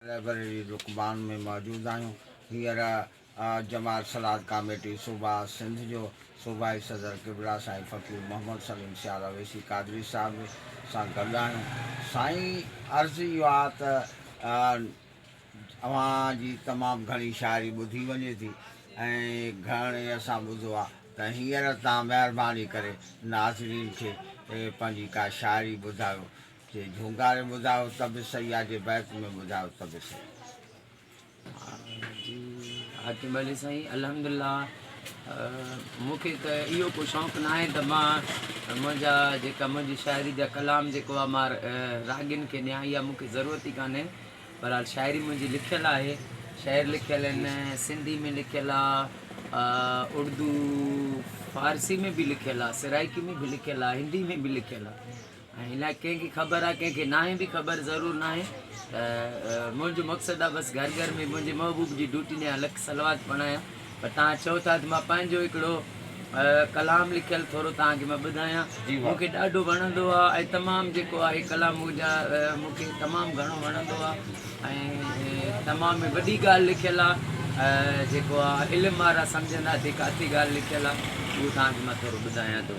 Library رڪبان ۾ موجود آهيون. هينئر جماعت صلات ڪاميٽي صوبه سنڌ جو صوبائي صدر قبلا سائين فقير محمد سليم سيال اويسي قادري صاحب سان گڏ آهيون. سائين عرض اهو آ ته اوهان جي تمام گهڻي شاعري ٻڌي وڃي ٿي ۽ گهڻي اسان ٻڌو آ ته هينئر تان مهرباني ڪري ناظرين کي پنهنجي ڪا شاعري ٻڌايو. جي جهونگاري ٻڌايو ته به صحيح آ جي بيت ۾ ٻڌايو ته به صحيح آ. جي ها جي ڀلي سائين الحمد الله مون کي ته اهو ڪو شوق ناهي ته مان منهنجا جيڪا منهنجي شاعري جا ڪلام جيڪو آ مان راڳين کي ڏيان اها مون کي ضرورت ئي ڪانهي بهرحال شاعري منهنجي لکيل آهي شعر لکيل آهن سنڌي ۾ لکيل آ اڙدو فارسي ۾ به لکيل آ سرائيڪي ۾ به لکيل آ هندي ۾ به لکيل آ. ۽ نه ڪنهن کي خبر آ ڪنهن کي ناهي به خبر ضرور ناهي ته منهنجو مقصد آ بس گهر گهر ۾ منهنجي محبوب جي ڊوٽي ڏيان لک صلوات پڙهايان پر توهان چئو ٿا ته مان پنهنجو هڪڙو ڪلام لکيل ٿورو توهان کي مان ٻڌايان مون کي ڏاڍو وڻندو آ ۽ تمام جيڪو آهي ڪلام منهنجا مون کي تمام گهڻو وڻندو آ ۽ تمام ۾ وڏي ڳالهه لکيل آ جيڪو آ علم وارا سمجهندا ته ڪاٿي ڳالهه لکيل آ اهو توهان کي مان ٿورو ٻڌايان ٿو.